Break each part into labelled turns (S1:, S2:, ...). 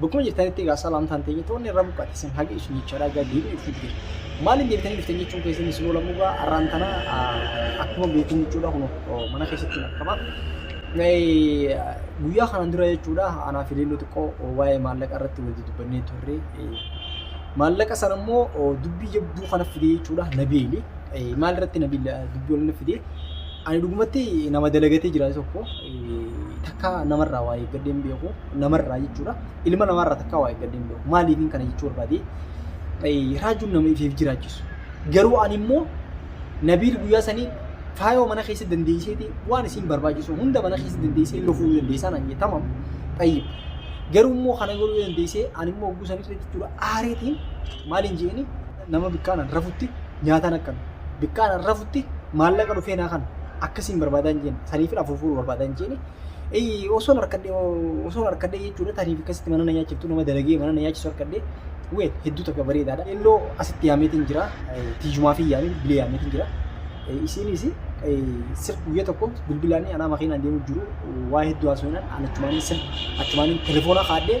S1: Bakkuma jirtanitti egaa salaamtaan teenya toonni irra buqqate isin hage isin jechaadha egaa deebiin itti fide. Maaliin deebitanii dhuftan jechuun keessan isin oolamu egaa arraan tana akkuma beektan jechuudha kun mana keessatti hin akkama. Guyyaa kanaan dura jechuudha anaa fi leelloo xiqqoo waa'ee maallaqa irratti wal dubbannee turre. Maallaqa sana immoo dubbii jabduu kana fide jechuudha nabiili. Maal irratti nabiila dubbii wal fide? Ani dhugumatti nama dalagatee jiraate tokko takkaa namarraa waa eeggadhee hin beeku namarraa jechuudha ilma namaarraa takkaa waa eeggadhee hin beeku maaliifin kana jechuu barbaade raajuun nama ifeef jiraachisu garuu ani immoo nabiil guyyaa sanii faayoo mana keessa dandeesseeti waan isin barbaachisu hunda mana keessa dandeessee lufuu dandeessaa naan jee tamam tayyib garuu immoo kana godhuu dandeessee ani immoo oguu sanii jechuudha aareetiin maaliin jeeni nama bikkaan an rafutti nyaataan akkami bikkaan an rafutti maallaqa dhufee naa kana akkasiin barbaadaa hin jeeni saniifin afuufuuru barbaadaa hin jeeni Eeyyii, osoon harkadhee osoon harkadhee jechuudha tariif akkasitti mana na nyaachiftu nama dalagee mana na nyaachisu harkadhee wee hedduu takka bareedaadha innoo asitti yaameetiin jira eh, tiijumaa fi yaamee bilee yaameetiin jira Eh, isiinis eh, sir guyyaa tokko bilbilaanii anaa makiinaan deemu jiru waa hedduu haasofnaan an achumaanii sir achumaanii telefoona kaadhee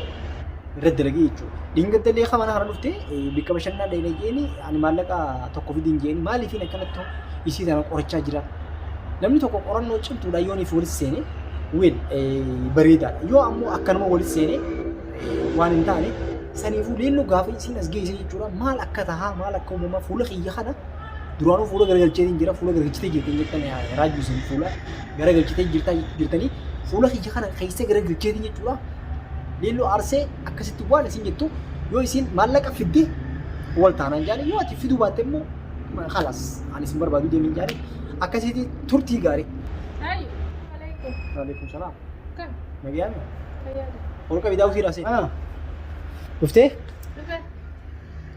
S1: irratti dalagee jechuudha. Dhingata illee akka mana kana dhufte bakka bashannanaa dhayina jeeni ani maallaqa tokko fidiin jeeni maaliifiin akkanatti isii tana qorachaa jira. Namni tokko qorannoo cimtuudha yoo niif walitti seene weel bareedaadha. Yoo ammoo akkanuma walitti seene waan hin taane saniifuu leelloo gaafa isiin as geesse jechuudha maal akka tahaa maal akka uumamaa fuula kiyya kana duraanuu fuula garagalchee jira fuula garagalchitee jirti hin jettan raajuu isin fuula garagalchitee jirta jirtanii fuula kiyya kana keessa garagalchee jechuudha. Leelloo aarsee akkasitti waan isin jettu yoo isin maallaqa fidde wal taanaan jaale yoo ati fiduu baatte immoo halas ani isin barbaadu deemin jaale akkasitti turtii gaarii. Ayi, alaikum. Waalaikum salaam. Kan, Nagaan fayyada.
S2: ol qabi daawwii
S1: raasee. Dhuftee? Dhufe.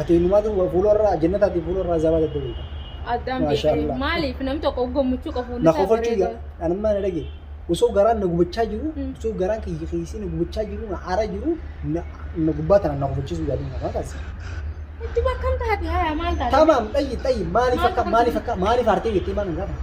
S2: Ati
S1: inumaatu fuularraa jannataati fuularraa zabaa daddabeeta. Addaan Maashaa
S2: beekanii Allah. maaliif nam tokko gammachuu qabu Na kofalchuu yaa
S1: anummaa na dhage. Osoo garaan na gubachaa jiru, Mm. osoo garaan kiyya keessi na gubachaa jiru, na aaraa jiru, na na gubbaa tanaan na kofalchiisuu yaaduu na kaasa. Itti
S2: bakkam taate haya maal taate? Tamaam xayyi xayyi
S1: maaliif Maal akka maaliif akka maaliif aartee jettee maal hin gaafatu?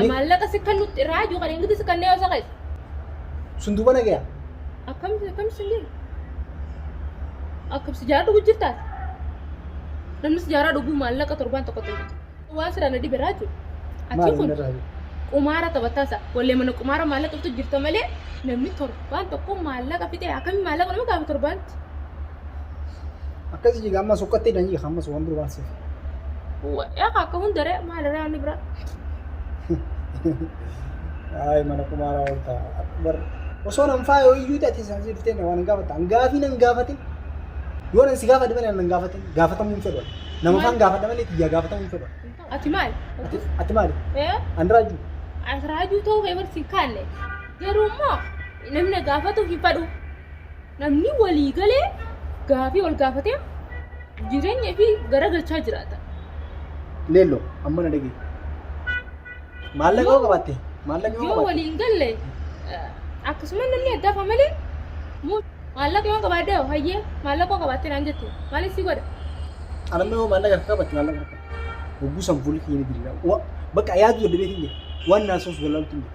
S1: Ni-
S2: Maallaqa si kan nutti irraa iyyuu kan ingiti si kan yoo saqees. Sun duuba
S1: nagaya. Akkam akkam
S2: si hin Akkam si jaara dhuguu jirtaas. Namni si jaara dhuguu maallaqa torbaan tokko ta'e. Waan siraan na dhibe irraa jechuudha. Achi Maal kun inni irraa jiru? qumaara taphataasa. Wallee mana qumaara maallaqa bitu jirta malee namni torbaan tokko maallaqa fixee akkamiin maallaqa nama gaafa torbaanti. Akkasii
S1: jiga ammas ukkatti hidhan jiga ammas waan biroo waan siif. Yaa
S2: akka hundaree maalirraa inni biraa.
S1: Ayi mana kumaaraa ol ta'a. Bar osoo nan faayoo iyyuu ta'e isaan si dhuftee waan hin gaafatan. Gaafii nan gaafatin. Yoo nan si gaafadhe malee nan gaafatin. Gaafatamuu hin fedhu. Nama faan gaafadhe malee tiyyaa gaafatamuu hin fedhu. Ati maali?
S2: Ati ati maali?
S1: Ee? Ani raajuu. Asiraajuu ta'uu
S2: kee barsiin kaalle. Garuu immoo namni na gaafatu hin fadhu. Namni walii galee gaafii wal gaafatee jireenya fi garagalchaa jiraata. Leello
S1: amma na dhagee. Maallaqa yoo qabaatte maallaqa yoo Yoo qabaatte waliin galle
S2: eh, akkasuma namni addaa fa malee mu- maallaqa yoo qabaadde hoo hayyee maallaqa yoo qabaatte naan jette maaliif si godha? anamni yoo
S1: maallaqa akka qabaatte maallaqa akka hogguu san fuulli kiyya ni diriira. Wa- Bakka yaadu daddabeetiin jira. Waan naasuuf galaaltu hin jiru.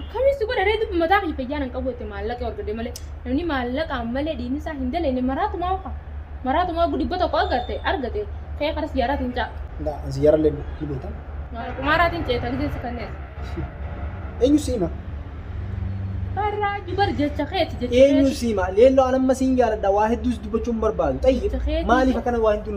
S1: Akkamii si godha
S2: ree dubbi mataa kiyya fayyaa nan qabu jette maallaqa yoo argadhe malee namni maallaqaan malee diinni isaa hin daleenne maraatumaa uka maraatumaa ugu dhibba tokko agarte argate ka'ee kara siyyaaraatiin ca'a. Nda an siyyara le ni beta. Mara
S1: qumaaraatiin ceeta
S2: gizeen si kanneessa.
S1: Enyu sima.
S2: Barraa jubar jecha keeti jecha Enyu keeti. sima.
S1: Leello an amma siin jaaladha waa hedduus dubbachuun barbaadu. Tayyib Jecha keeti. maaliif akkana waa hedduun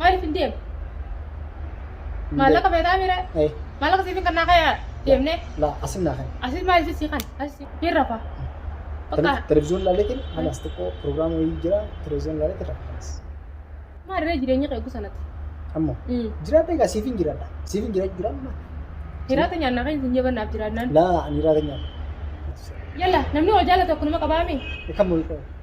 S1: Maaliif hin deemu?
S2: Maallaqa feetaa miira? Eh, Maallaqa siif hin kannaa kaya deemnee? la asin
S1: naa
S2: kan. Asis maaliif sisii
S1: kan?
S2: Asis hin rafa. Bakka Televizyoon laaleetiin
S1: halas xiqqoo pirogiraama wayii jira televizyoon laaleetiin rakkanas. maalirree
S2: jireenya qeegu sanatti? Ammoo Mm.
S1: jiraadha egaa siif hin jiraadha. Siif hin jiraadha jiraadha. Hiraata
S2: nyaannaa kan hin jabannaaf jiraannaan. La ani raata nyaata.
S1: Yalla
S2: namni wal jaalatu akkanuma qabaamee? Kan mul'atu.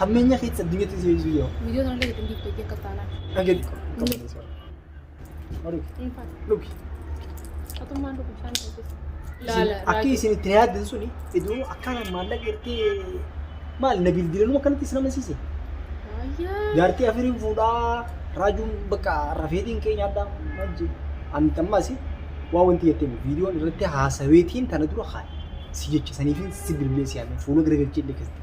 S1: Hammeenya keessa addunyatti si eegsisuu yoo. Viidiyoo sana illee ittiin diigdu hojii
S2: akkas taanaan. Dhageetti qabbaneessi
S1: waan. Marii. Hin faatu. Dhugi. Atummaan
S2: dhugu bishaan keessatti. Laala. Akki isin itti
S1: yaaddan suni iduu akkaan maallaqa ertee maal na bilbilanuma kanatti isin amansiise. Ayyaa.
S2: Jaartii afiriin
S1: fuudhaa raajuun bakka rafeetiin kee nyaadhaa maal jedhu. Ani tammaasi waa wanti jettee viidiyoon irratti haasaweetiin tana dura haadha. Si jecha saniifin si bilbilee si yaadne fuula garagalchee illee keessatti.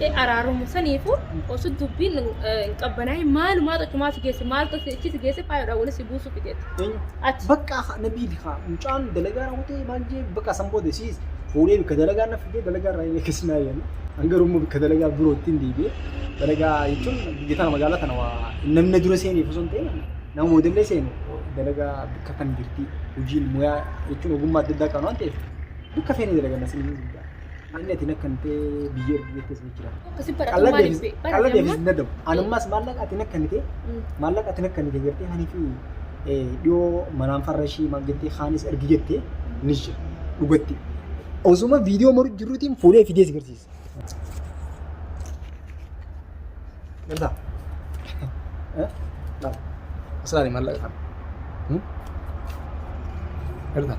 S1: jedhee araaramu
S2: saniifu osoo dubbiin hin qabbanaa'in maalumaa xucumaa si geesse maaltu si ichi si geesse faayoodhaan walitti si buusuuf jeetti. Ati Bakka haa- na biili
S1: haa mucaan dalagaa raawwatee maal jee bakka san booda siis fuudhee bikka dalagaa na fidee dalagaa irraa illee keessa naa yaala. An garuu immoo bikka dalagaa birootti hin deebi'e. Dalagaa jechuun biyya tana magaalaa tana waa namni na dura seeneef osoo hin ta'in nama booda illee seenu dalagaa bikka kan jirti hojiin muyaa jechuun ogummaa adda addaa qabna waan ta'eef bikka feene dalaganna siniin hin jaa. Manni ati nakkan ta'e biyya ergee keessa ni jira. Akkasi baratu Qalla maaliif
S2: deebis beeku? qalla deebis hin dadhabu.
S1: Anummas maallaqa ati nakkan ta'e maallaqa ati nakkan ta'e jettee hanii fi eh, dhiyoo manaan farra ishii maal jettee haanis ergi jettee ni jira. Dhugatti. Osuma viidiyoo moruu jiruutiin fuudhee fidee si garsiisa. Gartaa? Eh? Laal. Asirraa maallaqa kana. Hmm? Gartaa?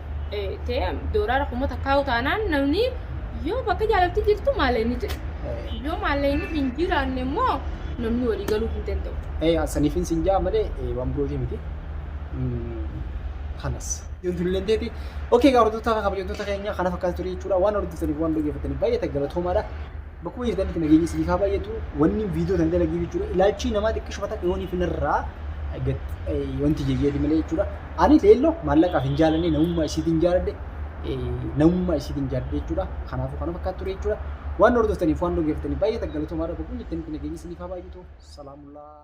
S2: ta'e doolara kuma takkaa'u taanaan namni yoo bakka jaalalti jirtu maalee ni jira. Yoo maalee inni hin jiraanne immoo namni walii galuu hin danda'u. Eh, saniifin sin jaa
S1: malee eh, waan birootii miti. Mm, Kanas. Ijoolleen teeti. Okee, gaa hordoftoota fi kabajamtoota keenya kana fakkaatu ture jechuudha. Waan hordoftaniif waan dhaggeeffataniif baay'ee ta'e galatoomaadha. Bakkuma jirtanitti nageenyi isiniif haa baay'atu. Wanni viidiyoo tan dalagiif jechuudha. Ilaalchii namaa xiqqishuma takka yooniif narraa wanti jeyyeeti malee jechuudha. Ani feello maallaqaaf hin jaalannee namummaa isiitiin jaaladhe namummaa isiitiin jaaladhe jechuudha. Kanaafuu kana fakkaatu ture jechuudha. Waan hordoftaniif waan dhaggeeffataniif baay'ee galatomaadha. Boqonni itti aanutti nageenya isiniif haa baay'atu. Salaamullaa.